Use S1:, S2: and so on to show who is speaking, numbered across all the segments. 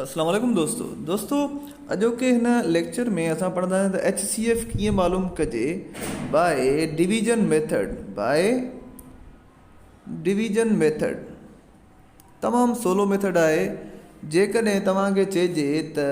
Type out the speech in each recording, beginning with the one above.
S1: اسلام عليڪم دوستو دوستو اڄوڪي هن ليڪچر ۾ اسان پڙهنداسين ته ايڇ سي ايف ڪيئن معلوم ڪجي by division method by division method تمام سولو ميٿڊ آهي جيڪڏهن توهان کي چئجي ته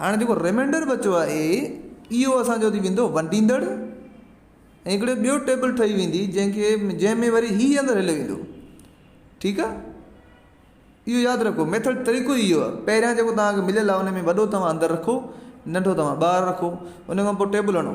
S1: هاڻي جيڪو ريمينڊر بچيو آهي اهو اسان جو ٿي ويندو ونڊيندڙ ۽ هڪڙو ٻيو ٽيبل ٺهي ويندي جنهن کي جنهن ۾ وري هي اندر هليو ويندو ٺيڪ آهي اهو ياد رکو ميٿڙ طريقو اهو آهي پهريان جيڪو تهان کي مليل آهي ان ۾ وڏو توهان اندر رکو ننڊو توهان ٻاهر رکو ان کان پوء ٽيبل هڻو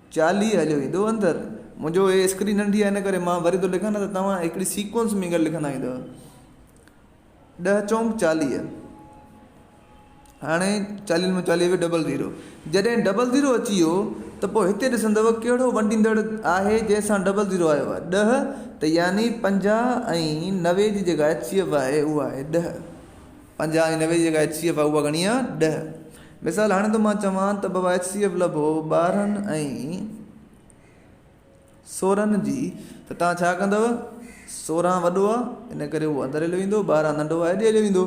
S1: چارلي هليو ايندو اندر. منهنجو هي اسڪرين ننڍي آهي ان ڪري مان وري ٿو لکان نه ته توهان هڪڙي سيڪوئنس ۾ گڏ لکندا ايندؤ. ڏهه چونڪ چاليهه. هاڻي چاليهن مان چاليهه ويو ڊبل زيرو. جڏهن ڊبل زيرو اچي ويو ته پوء هتي ڏسندؤ ڪهڙو ونڊيندڙ آهي جنهن سان ڊبل زيرو آيو آهي ڏهه ته يعني پنجاهه ۽ نوي جي جيڪا اچيو آهي اهو آهي ڏهه. پنجاهه ۽ نوي جي جيڪا ايڇ سي ايف آهي اها گهڻي آهي ڏهه مثال هاڻي ته مان چوان ته بابا ايڇ سي ايف لڀو ٻارهن ۽ سورهن جي ته توهان ڇا ڪندو سورهن وڏو آهي ان ڪري اهو اندر هليو ويندو ٻارهن ننڍو آهي ايڏي هليو ويندو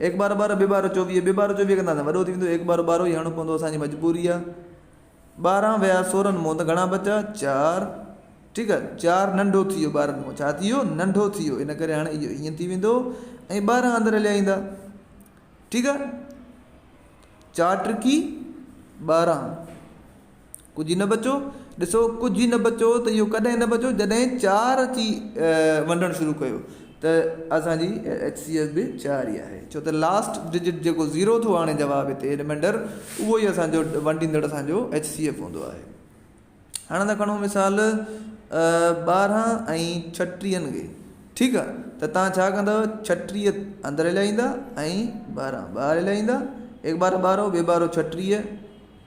S1: ايڪ ٻارهن ٻارهن ٻي ٻارهن چوويهه ٻي ٻارهن چوويهه ڪنداسين وڏو ٿي ويندو ايڪ ٻارهن ٻارهن ئي هڻڻو پوندو اسان جي مجبوري آهي ٻارهن ويا سورن مون ته گهڻا بچا؟ چار ٺيڪ آهي چار ننڍو ٿي ويو ٻارهن مون ڇا ٿي ويو ننڍو ٿي ويو ان ڪري هاڻي اهو ائين ٿي ويندو ۽ ٻارهن اندر هليا ايندا ٺيڪ آهي چار ٽرڪي ٻارهن ڪجهه نه بچو ڏسو ڪجهه نه بچو ته اهو ڪڏهن نه بچو جڏهن چار ٿي ونڊڻ شروع ڪيو ته اسان جي ايڇ سي ايف به چار ئي آهي ڇو ته لاسٽ ڊجٽ جيڪو زيرو ٿو آڻي جواب هتي رمينڊر اهو ئي اسان جو ونڊيندڙ اسان جو ايڇ سي ايف هوندو آهي هاڻ اسان کڻو مثال ٻارهن ۽ ڇٽيهن کي ٺيڪ آهي ته تان ڇا ڪندو ڇٽيهه اندر هلائيندا ۽ ٻارهن ٻاهر هلائيندا هڪ ٻارهه ٻارهو ٻي ٻارهو ڇٽيهه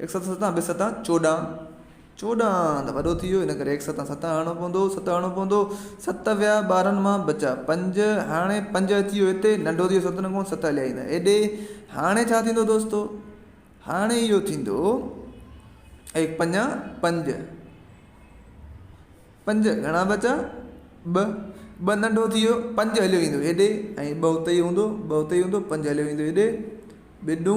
S1: هڪ ست ستان ٻه ستان چوڏهن، چوڏهن ته وڏو ٿي ويو ان ڪري هڪ ستان ست هڻڻو پوندو، ست هڻڻو پوندو، ست ويا ٻارهن مان بچا پنج، هاڻي پنج اچي ويو هتي ننڍو ٿي ويو ست نڪون ست هليا ايندا هيڏي، هاڻي ڇا ٿيندو دوستو هاڻي اهو ٿيندو ايڪ پنجا پنج، پنج گهڻا بچا ٻه، ٻه ننڍو ٿي ويو پنج هليو ايندو هيڏي ۽ ٻه اتي هوندو ٻه اتي هوندو پنج هليو ايندو هيڏي ٻيڏو،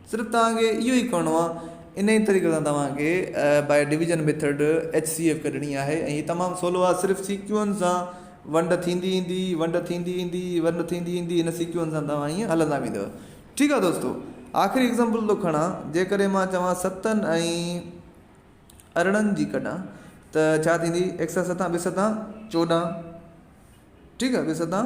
S1: صرف توهان کي اهو ئي ڪرڻو آهي انهي ئي طريقي سان توهان کي by division method H C F ڪڍڻي آهي ۽ هي تمام سولو آهي صرف سي ڪيو اين سان ونڊ ٿيندي ايندي ونڊ ٿيندي ايندي ونڊ ٿيندي ايندي هن سي ڪيو اين سان توهان ائين هلندا ويندو ٺيڪ آهي دوستو آخري ايگزامپل ٿو کڻا جيڪڏهن مان چوان ستن ۽ ارڙهن جي ڪڍا ته ڇا ٿيندي ايڪ سان ستان ٻه ستان چوڏهن ٺيڪ آهي ٻه ستان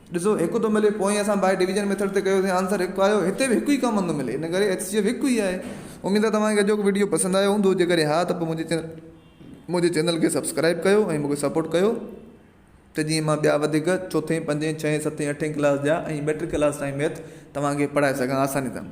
S1: ڏسو هڪ ٿو ملي پوئين اسان بائي ڊويزن ميٿڊ تي ڪيوسين آنسر هڪ آيو هتي به هڪ ئي ڪامن ٿو ملي ان ڪري HCF هڪ ئي آهي اميد آهي توهان کي اڄوڪو وڊيو پسند آيو هوندو جيڪڏهن ها ته پوء منهنجي چينل منهنجي چينل کي سبسڪرائب ڪيو ۽ مونکي سپورٽ ڪيو ته جيئن مان ٻيا وڌيڪ چوٿين پنجين ڇهين ستين اٺين ڪلاس جا ۽ ميٽرڪ ڪلاس تائين ميٿ توهان کي پڙهائي سگهان آساني سان